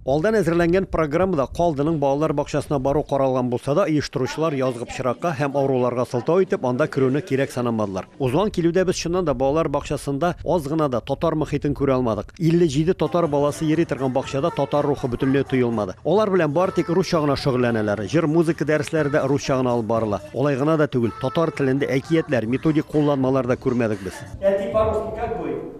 Алдан әзерләнгән программада Калдының балалар бакчасына бару каралган булса да, оештыручылар язгы пычракка һәм авыруларга сылтау итеп, анда керүне кирәк санамадылар. Узган килүдә без чыннан да балалар бакчасында аз гына да татар мохитен күрә алмадык. 57 татар баласы йөри торган бакчада татар рухы бөтенләй тоелмады. Алар белән бары тик русча гына шөгыльләнәләр. Җыр-музыка дәресләре дә русча гына алып барыла. Алай гына да түгел, татар телендә әкиятләр, методик кулланмалар да күрмәдек без. Әти, парусник как будет?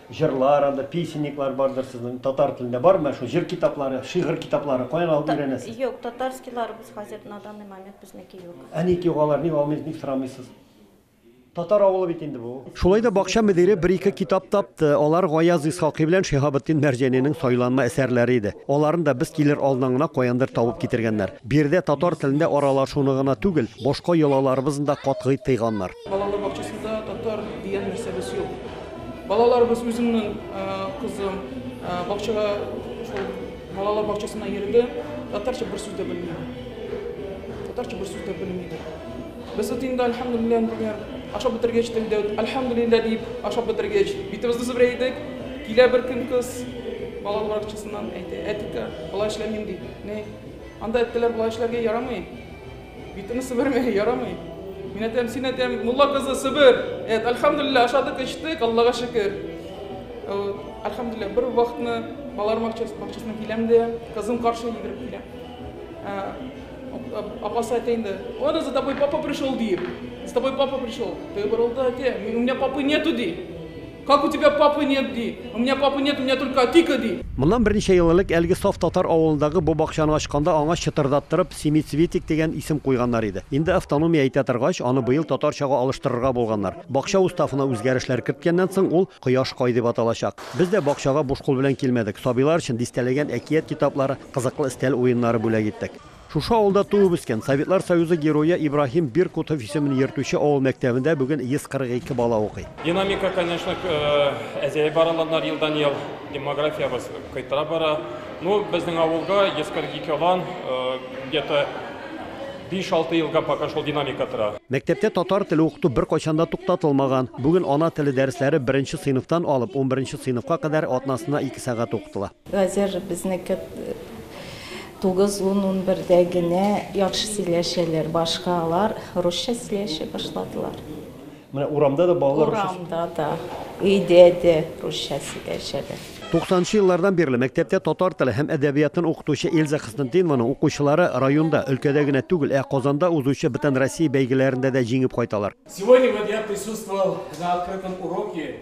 Җырлар, анда песенниклар бардыр сезнең, татар телендә бармы менә шул җыр китаплары, шигырь китаплары, каян алып өйрәнәсез? Юк, татарскийларыбыз хәзер на данный момент безнеке юк. Ә ник юк алар, ник алмыйсыз, ник сорамыйсыз? Татар авылы бит инде бу. Шулай да бакча мөдире бер-ике китап тапты. Алар Гаяз Исхакый белән Шиһабетдин Мәрҗәнинең сайланма әсәрләре иде. Аларын да без килер алдыннан гына каяндыр табып китергәннәр. Биредә татар телендә аралашуны гына түгел, башка йолаларыбызны да катгый тыйганнар. Балалар бакчасында татар дигән нәрсәбез юк. Балаларыбыз үземнең кызым бакчага шул балалар бакчасына йөрде, татарча бер сүз дә белми. Татарча бер сүз дә белми. Без вот инде альхамдулилла, например, ашап бетергәч телдә альхамдулилла дип ашап бетергәч битебезне сыбра идек. Килә бер көн кыз балалар бакчасыннан әйтә, әтикә, болай эшләмим ди. Ни? Анда әттеләр болай эшләргә ярамый. Битемне сибермә, ярамый. Мин әйтәм, син әйтәм, мулла кызы сибер. Әйт, әлхәмдулилла, ашадык, эчтек, Аллага шөкер. Әлхәмдулилла, бер вакытны балалар бакчасына киләм дә, кызым каршы йөгереп килә. Апасы әйтә инде, "Аны за тобой папа пришел", дип. "За тобой папа пришел". Ты борылды, әйтә, "Меня папы нету", ди. Как у тебя папы нет, ди. У меня папы нет, у меня только Атика, ди. Моннан берничә ел элек әлеге саф татар авылындагы бу бакчаны ачканда аңа чытырдаттырып Семицветик дигән исем куйганнар иде. Инде автономия әйтә торгач, аны быел татарчага алыштырырга булганнар. Бакча уставына үзгәрешләр керткәннән соң, ул Кояш кай дип аталачак. Без дә бакчага буш кул белән килмәдек. Сабыйлар өчен дистәләгән әкият китаплары, кызыклы өстәл уеннары бүләк иттек. Шушы авылда туып үскән, Советлар Союзы Герое Ибраһим Биркутов исемен йөртүче авыл мәктәбендә бүген 142 бала укый. Динамика, конечно, әзәеп бараланар елдан-ел, демографиябыз кайтара бара. Ну, безнең авылга 142 алан, где-то 5-6 елга пока шул динамика тора. Мәктәптә татар теле укыту беркайчан да туктатылмаган. Бүген ана теле дәресләре беренче сыйныфтан алып унберенче сыйныфка кадәр атнасына ике сәгать укытыла. Хәзер безнеке тугыз, ун, унбердә генә яхшы сөйләшәләр, башка алар русча сөйләшә башладылар. Менә урамда да балалар русча сөйләшә. Урамда да, өйдә дә русча сөйләшәләр. Туксанынчы еллардан бирле мәктәптә татар теле һәм әдәбиятын укытучы Эльза Хөснетдинованың укучылары районда, өлкәдә генә түгел, ә Казанда узучы Бөтенроссия бәйгеләрендә дә җиңеп кайталар. Сегодня вот я присутствовал на открытом уроке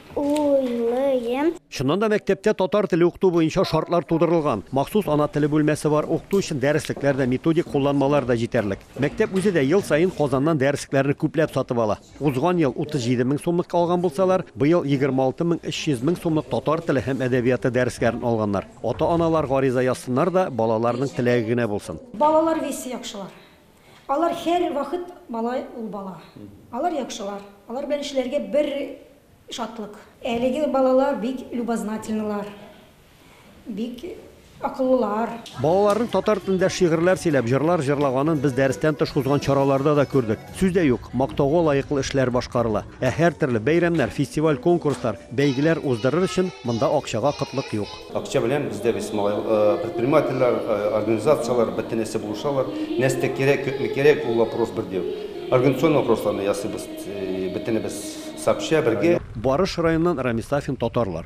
уйлыйм. Чыннан да, мәктәптә татар теле укыту буенча шартлар тудырылган. Махсус ана теле бүлмәсе бар, укыту өчен дәреслекләр дә, методик кулланмалар да җитәрлек. Мәктәп үзе дә ел саен Казаннан дәреслекләрне күпләп сатып ала. Узган ел 37 мең сумлыкка алган булсалар, быел 26 мең 300 мең сумлык татар теле һәм әдәбияты дәресләрен алганнар. Ата-аналар гариза язсыннар да, балаларының теләге генә булсын. Балалар весе яхшылар. Алар һәр вахыт бала ул бала. Алар яхшылар. Алар белән эшләргә бер шатлык. Әлеге балалар бик любознательнылар. Бик акыллылар. Балаларның татар телендә шигырьләр сөйләп, җырлар җырлаганын без дәрестән тыш узган чараларда да күрдек. Сүз дә юк, мактауга лаеклы эшләр башкарыла. Ә һәртөрле бәйрәмнәр, фестиваль-конкурслар, бәйгеләр уздырыр өчен монда акчага кытлык юк. Акча белән бездә без малай, предпринимательләр, организацияләр бөтенесе булышалар. Нәрсә кирәк, күпме кирәк, ул вопрос бер дә юк. Организационный вопросларны ясыйбыз бөтенебез сообща, бергә. Барыш районыннан Рамис Сафин татарлар.